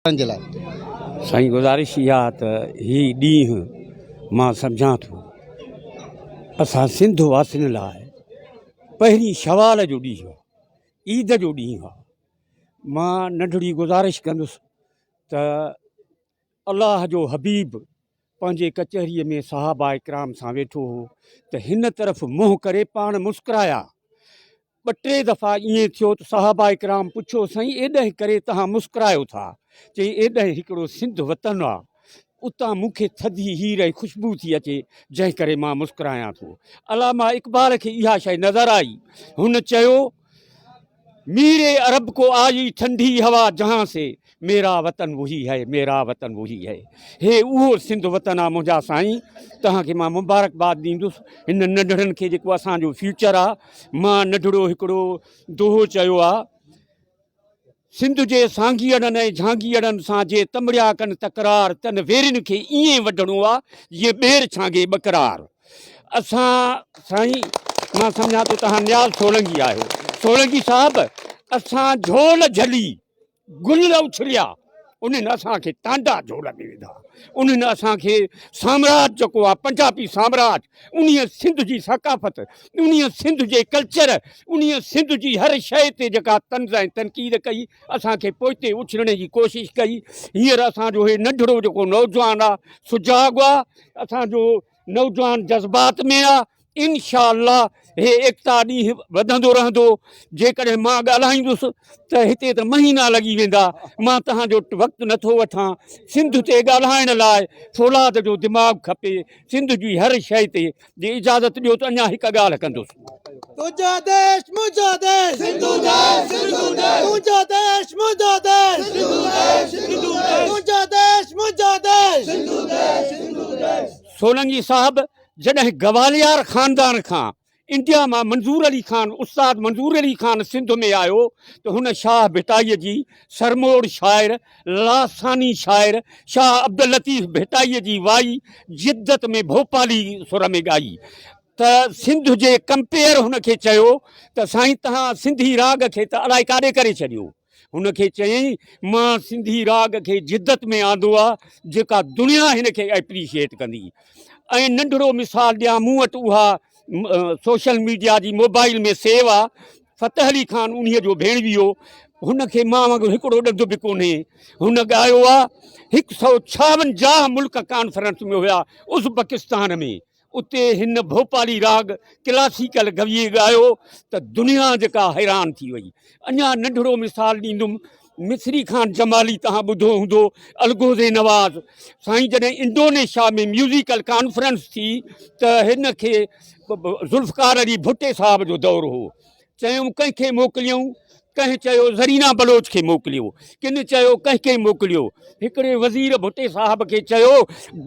ڪرڻ جي لاء. سائين گذارش اها ته هي ڏينهن مان سمجهان ٿو اسان سنڌ واسين لاء پهرين شوال جو ڏينهن آهي عيد جو ڏينهن آهي مان ننڍڙي گذارش ڪندس ته الله جو حبيب پنهنجي ڪچهري ۾ صحابه ڪرام سان ويٺو هو ته هن طرف منهن ڪري پاڻ مسڪرايا ٻه ٽي دفعا ائين ٿيو ته صحابه ڪرام پڇيو سائين ايڏنهن ڪري تهان مسڪرايو ٿا؟ چيائين ايڏنهن هڪڙو سنڌ وطن آ اتان مون کي ٿڌي هير ۽ خوشبو ٿي اچي جنهن ڪري مان مسڪرايان ٿو. علامه اقبال کي اها شيء نظر آئي هن چيو ميري عرب ڪو آئي ٺنڊي هوا جهان سي ميرا وطن وھي ھي ميرا وطن وھي ھي ھي اھو سنڌ وطن آ منھنجا سائين توھان کي مان مبارڪ باد ڏيندس ھن ننڍڙن کي جيڪو اسان جو فيوچر آ مان ننڍڙو ھڪڙو دوھو چيو آ سنڌ جي سانگيئڙن ۽ جھانگيئڙن سان جي تمڙيا ڪن تڪرار تن ويرين کي ايئن وڍڻو آ جيئن ٻير ڇانگي ٻڪرار اسان سائين مان سمجھان ٿو توھان نياز سولنگي آھيو سولنگي صاحب اسان جھول جھلي گل اٿريا انهن اسان کي ٽانڊا جو لڳي وڌا انهن اسان کي سامراج جيڪو آ پنجابي سامراج انهي سنڌ جي ثقافت انهي سنڌ جي ڪلچر انهي سنڌ جي هر شئي تي جيڪا طنز ۽ تنقيد ڪئي اسان کي پوئتي اڇلڻي جي ڪوشش ڪئي هينئر اسان جو هي ننڍڙو جيڪو نوجوان آ سجاڳ آ اسان جو نوجوان جذبات ۾ آ انشاء الله هي ايڪتا ڏينهن وڌندو رهندو جيڪڏهن مان ڳالهائيندس ته هتي ته مهينا لڳي ويندا مان توهان جو وقت نٿو وٺان سنڌ تي ڳالهائڻ لاء فولاد جو دماغ کپي سنڌ جي هر شيء تي جي اجازت ڏيو ته اڃا هڪ ڳالهه ڪندس سولنگي صاحب جڏهن گواليار خاندان کان انڊيا مان منظور علي خان استاد منظور علي خان سنڌ ۾ آيو ته هن شاهه ڀٽائي جي سرموڙ شاعر لاثاني شاعر شاهه عبداللطيف ڀٽائي جي وائي جدت ۾ ڀوپالي سر ۾ ڳائي ته سنڌ جي ڪمپيئر هن کي چيو ته سائين تهان سنڌي راڳ کي ته الائي ڪاڏي ڪري ڇڏيو. هن کي چيائين مان سنڌي راڳ کي جدت ۾ آندو آ جيڪا دنيا هن کي ايپريشيئيٽ ڪندي ۽ ننڍڙو مثال ڏيان مون وٽ اها سوشل ميڊيا جي موبائل ۾ سيو آ فتح علي خان انهي جو ڀيڻوي هو هن کي مان وانگر هڪڙو ڏند به ڪونهي هن ڳايو آ هڪ سئو ڇاونجاهه ملڪ ڪانفرنس ۾ هيا ازبڪستان ۾ اتي هن ڀوپالي راڳ ڪلاسيڪل گويي ڳايو ته دنيا جيڪا حيران ٿي وئي. اڃا ننڍڙو مثال ڏيندم، مصري خان جمالي توهان ٻڌو هوندو، الغوزي نواز سائين جڏهن انڊونيشيا ۾ ميوزيڪل ڪانفرنس ٿي ته هن کي ذوالفقار علي ڀٽي صاحب جو دور هو چيم ڪنهن کي موڪليون؟ ڪنهن چيو زرينا بلوچ کي موڪليو، ڪن چيو ڪنهن کي موڪليو، هڪڙي وزير ڀٽي صاحب کي چيو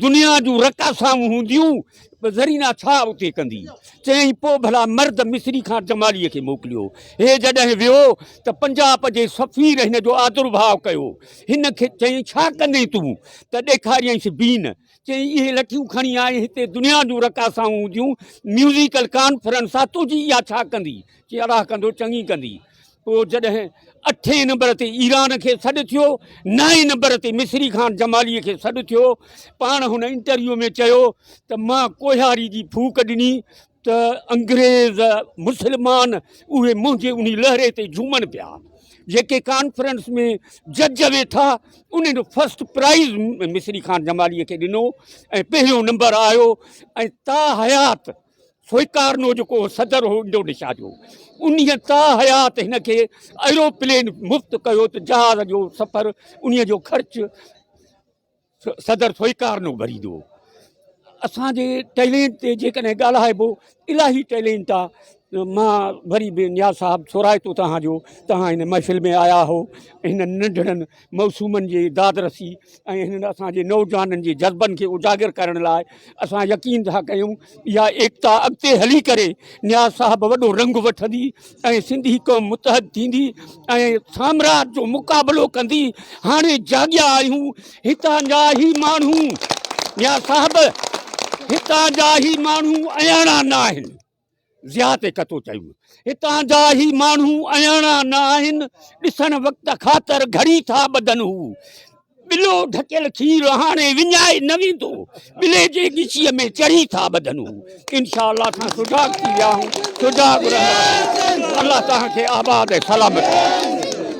دنيا جون رقاصائون هونديون زرينا ڇا اتي ڪندي؟ چيائين پوء ڀلا مرد مصري خان جماليء کي موڪليو، هي جڏهن ويو ته پنجاب جي سفير هن جو آدرڀاء ڪيو، هن کي چيائين ڇا ڪندين تون؟ ته ڏيکاريائينس بين. چيائين اهي لٺيون کڻي آء هتي دنيا جون رقاصائون هونديون ميوزيڪل ڪانفرنس آ تنهنجي اها ڇا ڪندي؟ چيائين الاهه ڪندو چڱي ڪندي. پوء جڏهن اٺين نمبر تي ايران کي سڏ ٿيو نائين نمبر تي مصري خان جماليء کي سڏ ٿيو پاڻ هن انٽرويو ۾ چيو ته مان ڪوهياري جي ڦوڪ ڏني ته انگريز مسلمان اهي منهنجي انهي لهري تي جهومن پيا جيڪي ڪانفرنس ۾ جج ويٺا انهن فرسٽ پرائز مصري خان جمالي کي ڏنو ۽ پهريون نمبر آيو ۽ تا حيات سوئڪارنو جيڪو صدر هو انڊونيشيا جو انهي تا حيات هن کي ايروپلين مفت ڪيو ته جهاز جو سفر انهي جو خرچ صدر سوئيڪارنو ڀريندو هو. اسان جي ٽيلينٽ تي جيڪڏهن ڳالهائبو الاهي ٽيلينٽ آ مان وري به نياز صاحب ٿورائتو توهان جو توهان هن محفل ۾ آيا هو هن ننڍڙن موسومن جي داد رسي ۽ هنن اسان جي نوجوانن جي جذبن کي اجاگر ڪرڻ لاء اسان يقين ٿا ڪيون اها ايڪتا اڳتي هلي ڪري نياز صاحب وڏو رنگ وٺندي ۽ سنڌي قوم متحد ٿيندي ۽ سامراج جو مقابلو ڪندي هاڻي جاڳيا آهيون هتان جا هي ماڻهو نياز صاحب هتان جا هي ماڻهو اياڻا نه آهن ضياء تي ڪتو چيو، هتان جا هي ماڻهو اهياڻا نه آهن، ڏسڻ وقت خاطر گهڙي ٿا ٻڌن، هو ٻلو ڍڪيل کير هاڻي وڃائي نه ويندو، ٻلي جي ڳچيء ۾ چڙهي ٿا ٻڌن، هو انشاء الله اسان سجاڳ ٿي ويا آهيون، سجاڳ رهندا رهون، الله توهان کي آباد ۽ سلامت رکي.